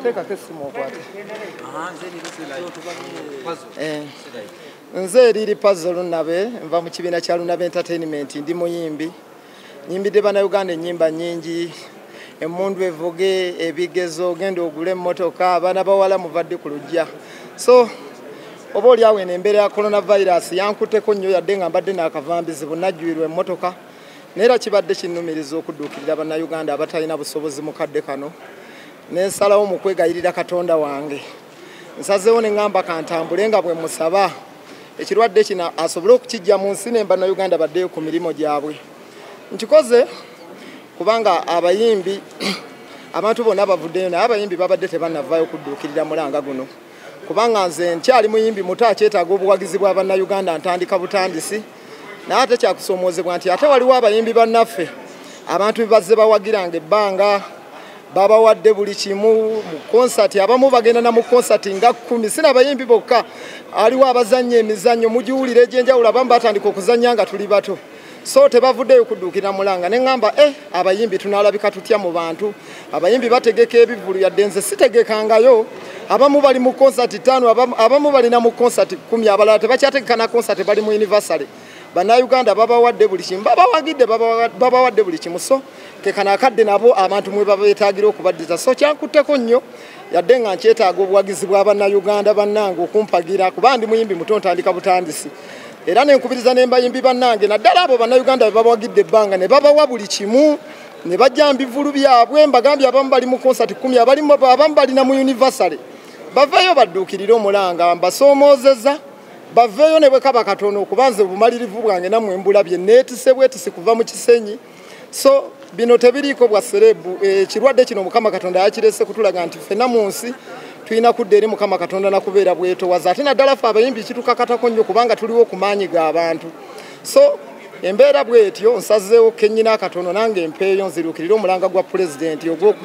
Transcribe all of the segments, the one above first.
teekako essimu okwate eh. nze eriri pazzo lunabe nva mu kibiina kya lunabe entertainment ndi muyimbi nyimbidde banauganda enyimba nyingi emundu evuge ebigezo ogenda ogula emotoka abaana bawala muvadde ku lujja so oba oli awo eno embeera ya coronavirus yankuteko nnyo yadde nga mbadde nakavambizibu najjuirwa emotoka naye era kibadde kinnumiriza okudduukirira bannayuganda abatalina busobozi mu kadde kano nensalawo mu kwegayirira katonda wange nsazeewo ne ŋŋamba kantambule nga bwe musaba ekirwadde kino asobole okukijja mu nsi ne mbannayuganda baddeyo ku mirimu gyabwe nkikoze kubanga abayimbi abantu bonna bavuddeyo naye abayimbi babadde tebanavaayo okudduukirira mulanga guno kubanga nze nkyali muyimbi muto akyetaaga obuwagizi bwa bannayuganda ntandika butandisi naye ate kyakusoomoozebwa nti ate waliwo abayimbi bannaffe abantu bebazze bawagiranga ebbanga babawadde buli kimu mu konsati abamu bagenda na mu konsati nga kkumi sina abayimbi bokka aliwo abazannya emizannyo mugiwulira egyenjawulo abamu batandika okuzannya nga tuli bato so tebavuddeyo kuduukira mulanga ne ŋamba e eh, abayimbi tunalabika tutya mu bantu abayimbi bategeka ebivulu yadde nze sitegekangayo abamu bali mu konsati tano abamu balina mu konsati kumi abalala tebakyategeka na konsati bali mu univesary banauganda babawadde buli kimu babawagidde babawadde buli kimu so kekana akadde nabo abantu mwe babetagira okubaddiza so kyankutteko nnyo yadde nga nkyetaaga obuwagizi bwa bannayuganda bannange okumpagira kuba ndi muyimbi muto ntandika butandisi era nenkubiriza nembayimbi bannange naddala abo bannayuganda bebabawagidde ebbanga ne babawa buli kimu ne bajja mbivulu byabwe mbagambye abamu bali mu konsati kumi abamu balina mu univesary baveeyo badduukirire omulanga mbasoomoozeza baveeyo ne bwekaba katono okubanze obumalirivu bwange namwe mbulabye neetise bwetisi kuva mu kisenyi so bino tebiriiko bwa serebu eh, ekirwadde kino mukama katonda yakirese kutulaga nti fena mu nsi tulina kudda eri mukama katonda nakubeera bwetowaza ate naddala fe abayimbi kitukakatako nnyo kubanga tuliwo ku maanyi g'abantu so embeera bwetyo nsazeewo kenyina akatono nange empeeyo nziruukirire omulanga gwa pulezidenti ogwoku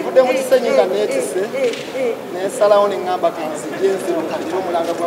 nvudde mu kisenyi nga neetise nesalawo ne ŋŋamba kansi gyenziro kalire omulanga gwa